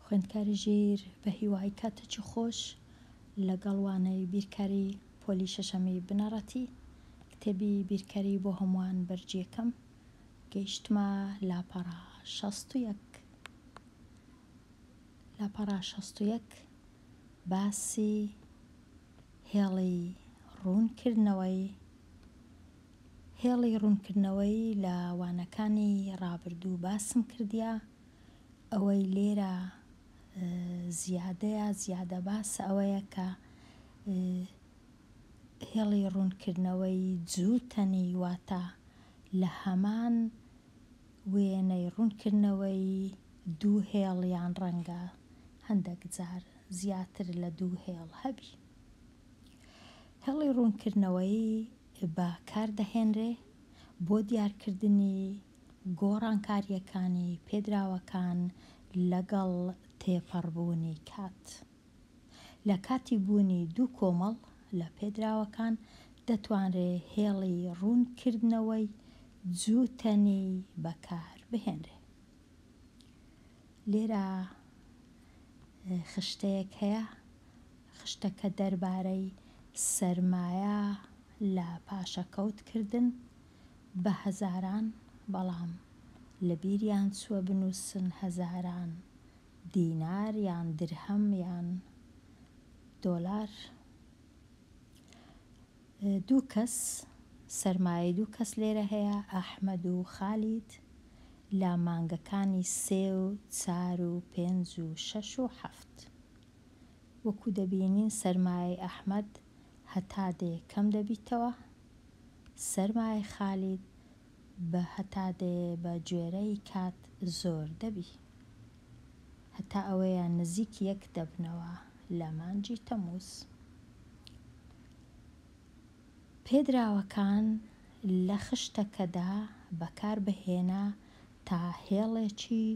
خوێندکاری ژیر بەهیوای کاتەکی خۆش لەگەڵ وانەی بیرکاری پۆلی شەشەمی بنەڕەتی کتێبی بیرکاری بۆ هەمووان بەرجیەکەم گەیشتمە لاپەڕە شەست و یەک لاپەڕە شەست و یەک باسی هێڵی ڕوونکردنەوەی هێڵی ڕوونکردنەوەی لە وانەکانی ڕابردوو باسم کردیە، ئەوەی لێرە زیادەیە زیادە باسە ئەوەیە کە هێڵی ڕوونکردنەوەی جووتەنی واتە لە هەمان وێنەی ڕوونکردنەوەی دوو هێڵ یان ڕەنگە هەندەک جار زیاتر لە دوو هێڵ هەبی هێڵی ڕوونکردنەوەی بە کار دەهێنرێ بۆ دیارکردنی گۆڕانکارییەکانی پێدراوەکان لەگەڵ تێپەڕبوونی کات. لە کاتی بوونی دوو کۆمەڵ لە پێدراوەکان دەتوانرێ هێڵی ڕوونکردنەوەی جووتەنی بە کار بهێنرێ. لێرە خشتەیەک هەیە خشتەکە دەربارەی سەرمایە لە پاشەکەوت کردن بە هەزاران بەڵام لە بیریان چووە بنووسن هەزاران دینار یان درهەم یان دۆلار دوو کەس سەرمایەی دوو کەس لێرە هەیە ئەحمەد و خالید لە مانگەکانی سێ و چار و پێنج و شەش و حەفت. وەکو دەبینین سەرمایەی ئەحمەد هەتا دەیە کەم دەبیتەوە، سەرمایەی خالید بە هەتا دەیە بە گوێرەی کات زۆر دەبی. هەتا ئەوەیە نزیک یەک دەبنەوە لە مانگی تەمووز. پێدراوەکان لە خشتەکەدا بەکار بهێنە تا هێڵێکی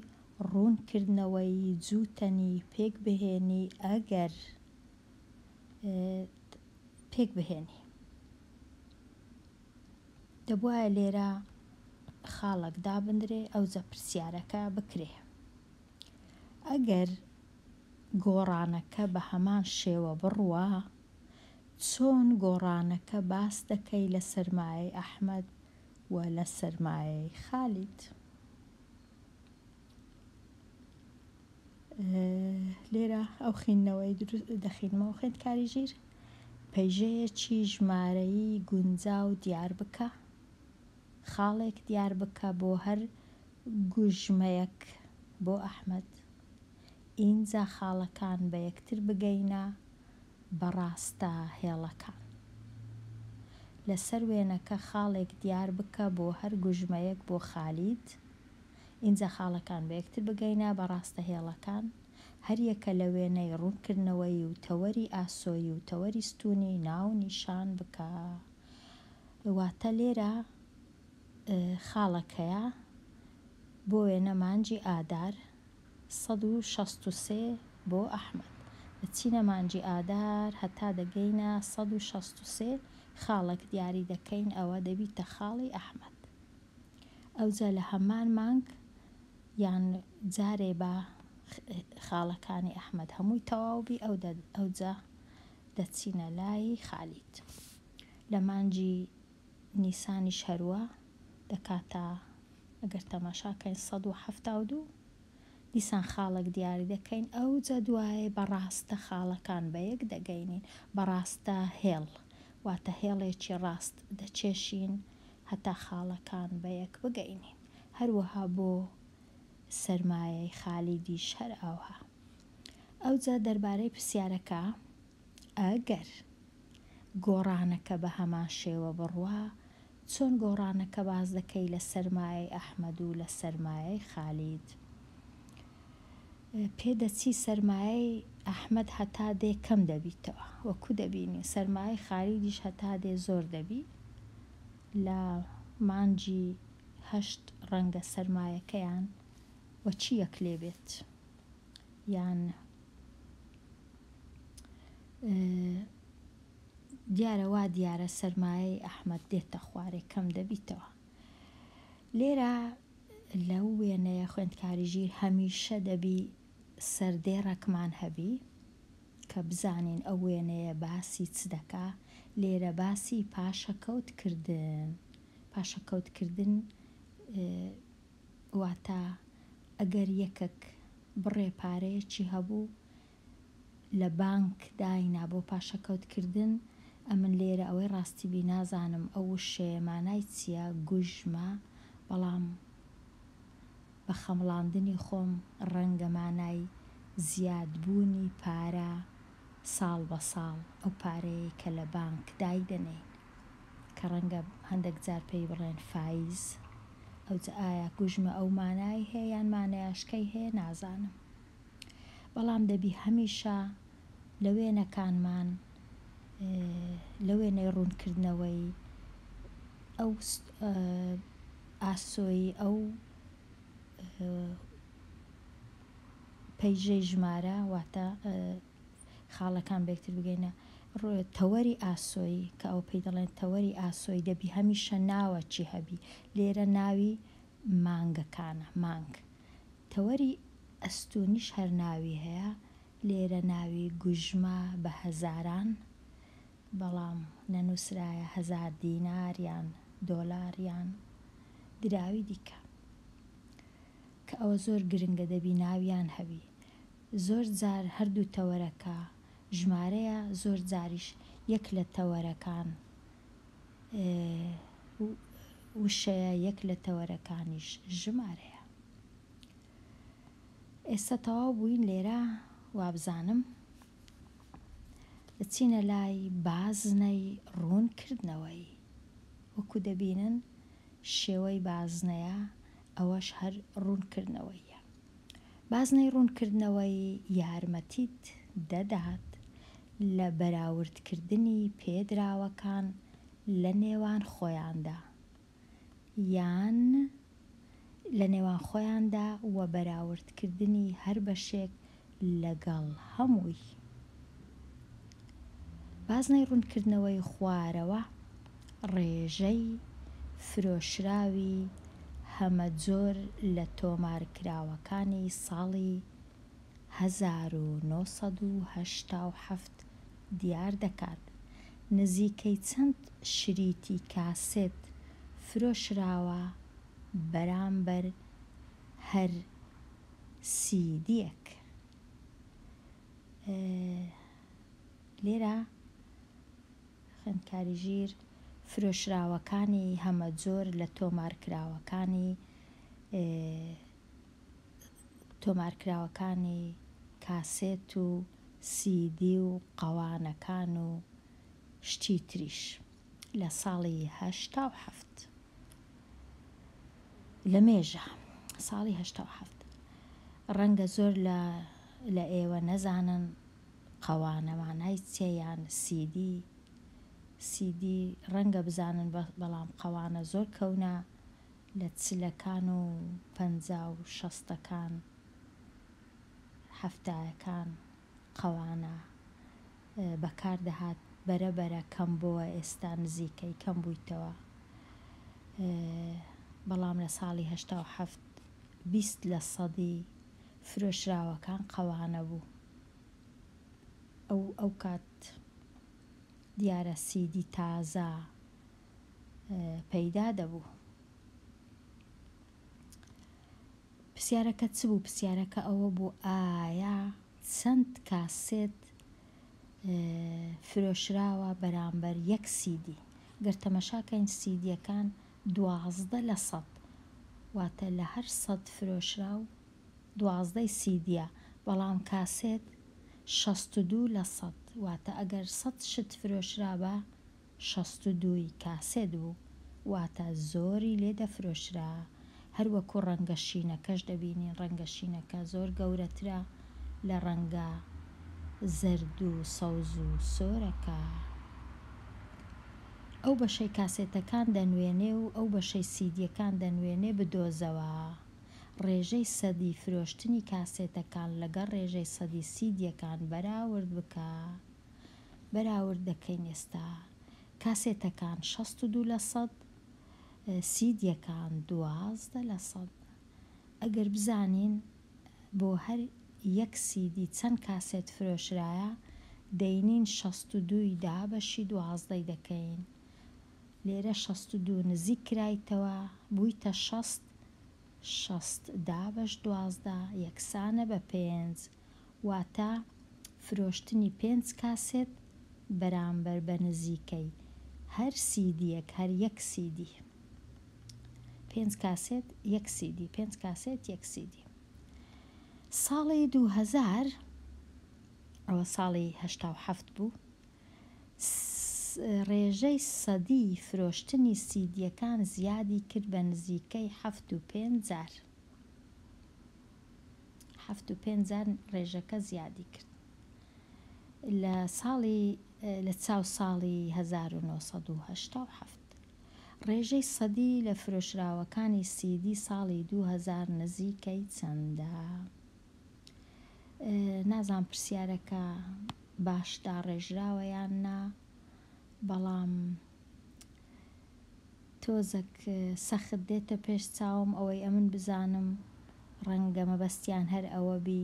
ڕوونکردنەوەی جووتەنی پێکبهێنی ئەگەر ت پێکبهێنی. دەبوایە لێرە خاڵەک دابندرێ ئەوجە پرسیارەکە بکرێ ئەگەر گۆڕانەکە بە هەمان شێوە بڕوا چۆن گۆڕانەکە باس دەکەی لە سەرمایەی ئەحمەد و لە سەرمایەی خالید؟ لێرە ئەو خوێندنەوەی دەخینمەوە خوێندکاری ژیر پەیژەیەکی ژمارەیی گونجا و دیار بکە خاڵێک دیار بکە بۆ هەر گوژمەیەک بۆ ئەحمد ئینجا خاڵەکان بە یەکتر بگەینە بە ڕاستە هێڵەکان. لەسەر وێنەکە خاڵێک دیار بکە بۆ هەر گوژمەیەک بۆ خالید. ئینجا خاڵەکان بە یەکتر بگەینە بە ڕاستە هێڵەکان. هەر یەکە لە وێنەی ڕوونکردنەوەیی و تەوەری ئاسۆیی و تەوەری ستوونی ناو نیشان بکە. واتە لێرە خاڵەکەیە بۆ وێنە مانگی ئادار سەد و شەست و سێ بۆ ئەحمەد. دەچینە مانگی ئادار هەتا دەگەینە سەد و شەست و سێ خاڵێک دیاری دەکەین ئەوە دەبیتە خاڵی ئەحمەد. ئەوجا لە هەمان مانگ یان جارێ با خاڵەکانی ئەحمەد هەمووی تەواو بی ئەوجا دەچینە لای خالید. لە مانگی نیسانیش هەروا دەکاتە ئەگەر تەماشا کەین سەد و حەفتا و دوو دیسان خاڵەک دیاری دەکەین ئەوجە دوایێ بە ڕاستە خاڵەکان بە یەک دەگەینین بە ڕاستە هێڵ واتە هێڵێکی ڕاست دەکێشین هەتا خاڵەکان بە یەک بگەینین هەروەها بۆ سەرمایەی خالیدیش هەر ئاوها ئەوجە دەربارەی پرسیارەکە ئەگەر گۆڕانەکە بە هەمان شێوە بڕوا چۆن گۆڕانەکە باس دەکەی لە سەرمایەی ئەحمەد و لە سەرمایەی خالید پێ دەچی سەرمایەی ئەحمەد هەتا دێ کەم دەبیتەوە وە کو دەبینی سەرمایەی خالیدیش هەتا دێ زۆر دەبی لە مانجی هەشت ڕەنگە سەرمایەکەیان وە چی یەک لێ بێت. یان دیارە وا دیارە سەرمایەی ئەحمەد دێتە خوارێ کەم دەبیتەوە. لێرە لەو وێنەیە خوێندکاری ژیر هەمیشە دەبی سەردێڕەکمان هەبی کە بزانین ئەو وێنەیە باسی چ دەکا، لێرە باسی پاشەکەوتکردن پاشەکەوتکردن واتە ئەگەر یەکەک بڕێ پارەیەکی هەبوو لە بانک داینا بۆ پاشەکەوت کردن، ئەمن لێرە ئەوەی ڕاستی بی نازانم ئەو وشەیە مانای چیە، گوژمە، بەڵام بە خەمڵاندنی خۆم ڕەنگە مانای زیاد بوونی پارە ساڵ بە ساڵ ئەو پارەیەی کە لە بانک دایدەنێین کە ڕەنگە هەندەک جار پێی بڵێن فایز ئەوجە ئایا گوژمە ئەو مانای هەیە یان مانەیاشکەی هەیە نازانم بەڵام دەبی هەمیشە لە وێنەکانمان لە وێنەی ڕوونکردنەوەی ئەو ئاسۆی ئەو پەیژەی ژمارە واتە خاڵەکان بەکتر بگەینە ڕۆێ تەوەری ئاسۆیی کە ئەو پێی دەڵێن تەوەری ئاسۆی دەبی هەمیشە ناوە چی هەبی لێرە ناوی مانگەکانە مانگ تەوەری ئەستونیش هەر ناوی هەیە لێرە ناوی گوژمە بە هەزاران بەڵام نەنووسرایە هەزار دینار یان دۆلار یان دراوی دیکە کە ئەوە زۆر گرنگە دەبی ناویان هەبی زۆر جار هەردوو تەوەرەکە ژمارەیە زۆر جاریش یەک لە تەوەرەکان وشەیە یەک لە تەوەرەکانیش ژمارەیە ئێستا تەواو بووین لێرە وابزانم. دەچینە لای بازنەی ڕوونکردنەوەی، وەکو دەبینن شێوەی بازنەیە ئەوەش هەر ڕوونکردنەوەییە. بازنەی ڕوونکردنەوەی یارمەتیت دەدات لە بەراوردکردنی پێدراوەکان لە نێوان خۆیاندا یان لە نێوان خۆیاندا و بەراوردکردنی هەر بەشێک لەگەڵ هەمووی. بازنەی ڕوونکردنەوەی خوارەوە ڕێژەی فرۆشراوی هەمەجۆر لە تۆمارکراوەکانی ساڵی هەزار و نۆ سەد و هەشتا و حەفت دیار دەکات نزیکەی چەند شریتی کاسێت فرۆشراوە بەرامبەر هەر سیدیەک لێرە خوێندکاری ژیر فرۆشراوەکانی هەمەجۆر لە تۆمارکراوەکانی تۆمارکراوەکانی کاسێت و سیدی و قەوانەکان و شتی تریش لە ساڵی هەشتا و حەفت لە مێژە ساڵی هەشتا و حەفت ڕەنگە زۆر لە لە ئێوە نەزانن قەوانە مانای چیە یان سیدی سیدی ڕەنگە بزانن بەڵام قەوانە زۆر کەونە لە چلەکان و پەنجا و شەستەکان حەفتایەکان قەوانە بەکار دەهات بەرە بەرە کەم بۆوە ئێستا نزیکەی کەم بویتەوە بەڵام لە ساڵی هەشتا و حەفت بیست لە سەدی فرۆشراوەکان قەوانە بوو ئەو ئەو کات دیارە سیدی تازە پەیدا دەبوو. پرسیارەکە چ بوو پرسیارەکە ئەوە بوو ئایا چەند کاسێت فرۆشراوە بەرامبەر یەک سیدی گەر تەمەشاکەین سیدیەکان دوازدە لە سەد واتە لە هەر سەد فرۆشراو دوازدەی سیدیە بەڵام کاسێت شەست و دوو لە سەد واتە ئەگەر سەد شت فرۆشرابا شەست و دوو ی کاسێت بوو واتە زۆری لێ دەفرۆشرا هەر وەکو ڕەنگە شینەکەش دەبینین ڕەنگە شینەکە زۆر گەورەترە لە ڕەنگە زەرد و سەوز و سۆرەکە ئەو بەشەی کاسێتەکان دەنوێنێ و ئەو بەشەی سیدیەکان دەنوێنێ بدۆزەوە ڕێژەی سەدی فرۆشتنی کاسێتەکان لەگەڵ ڕێژەی سەدی سیدیەکان بەراورد بکە. بەراورد دەکەین ئێستا کاسێتەکان شەست و دوو لە سەد سیدیەکان دوازدە لە سەد ئەگەر بزانین بۆ هەر یەک سیدی چەند کاسێت فرۆشرایە دەینین شەست و دووی دا بەشی دوازدەی دەکەین لێرە شەست و دوو نزیک کرایتەوە بوویتە شەست شەست دا بەش دوازدە یەکسانە بە پێنج واتە فرۆشتنی پێنج کاسێت بەرامبەر بە نزیکەی هەر سیدییەک هەر یەک سیدی. پێنج کاسێت یەک سیدی پێنج کاسێت یەک سیدی. ساڵی دوو هەزار ئەوە ساڵی هەشتا و حەفت بوو ڕێژەی سەدی فرۆشتنی سیدییەکان زیادی کرد بە نزیکەی حەفت و پێنج جار. حەفت و پێنج جار ڕێژەکە زیادی کرد لە ساڵی لە چاو ساڵی هەزار و نۆ سەد و هەشتا و حەفت. ڕێژەی سەدی لە فرۆشراوەکانی سیدی ساڵی دوو هەزار نزیکەی چەندە؟ نازانم پرسیارەکە باش داڕێژراوە یان نا بەڵام. تۆزەک سەخت دێتە پێش چاوم ئەوەی ئەمن بزانم ڕەنگە مەبەستیان هەر ئەوە بی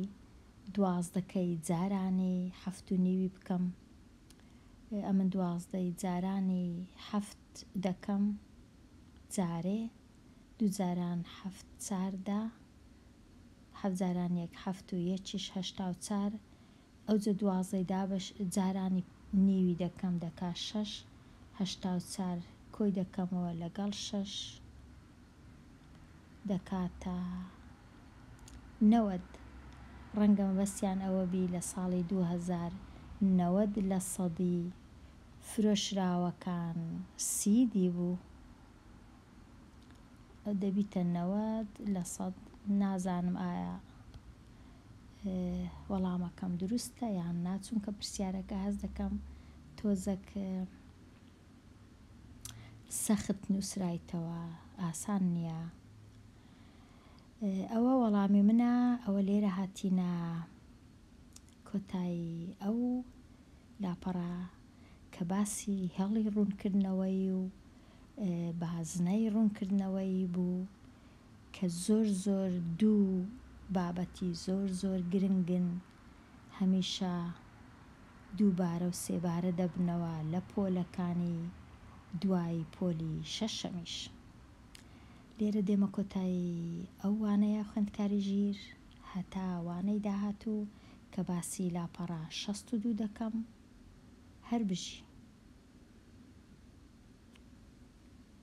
دوازدە کەی جارانی حەفت و نیوی بکەم ئەمن دوازدە ی جارانی حەفت دەکەم جارێ دوو جاران حەفت چار دە حەفت جاران یەک حەفت و یەکیش هەشتا و چار ئەوجە دوازدەی دابەش جارانی نیوی دەکەم دەکا شەش هەشتا و چار کۆی دەکەمەوە لەگەڵ شەش دەکاتە نەوەد ڕەنگە مەبەستیان ئەوە بی لە ساڵی دوو هەزار نەوەد لە سەدی فرۆشراوەکان سی دی بوو دەبیتە نەوەد لە سەد نازانم ئایا وەڵامەکەم دروستە یان نا چونکە پرسیارەکە هەست دەکەم تۆزەک سەخت نووسرایتەوە ئاسان نییە ئەوە وەڵامی منە ئەوە لێرە هاتینە کۆتایی ئەو لاپەڕە کە باسی هێڵی ڕوونکردنەوەی و بازنەی ڕوونکردنەوەی بوو کە زۆر زۆر دوو بابەتی زۆر زۆر گرنگن هەمیشە دووبارە و سێبارە دەبنەوە لە پۆلەکانی دوای پۆلی شەشەمیش لێرە دێمە کۆتایی ئەو وانەیە خوێندکاری ژیر هەتا وانەی داهاتوو کە باسی لاپەڕە شەست و دوو دەکەم هەربژی.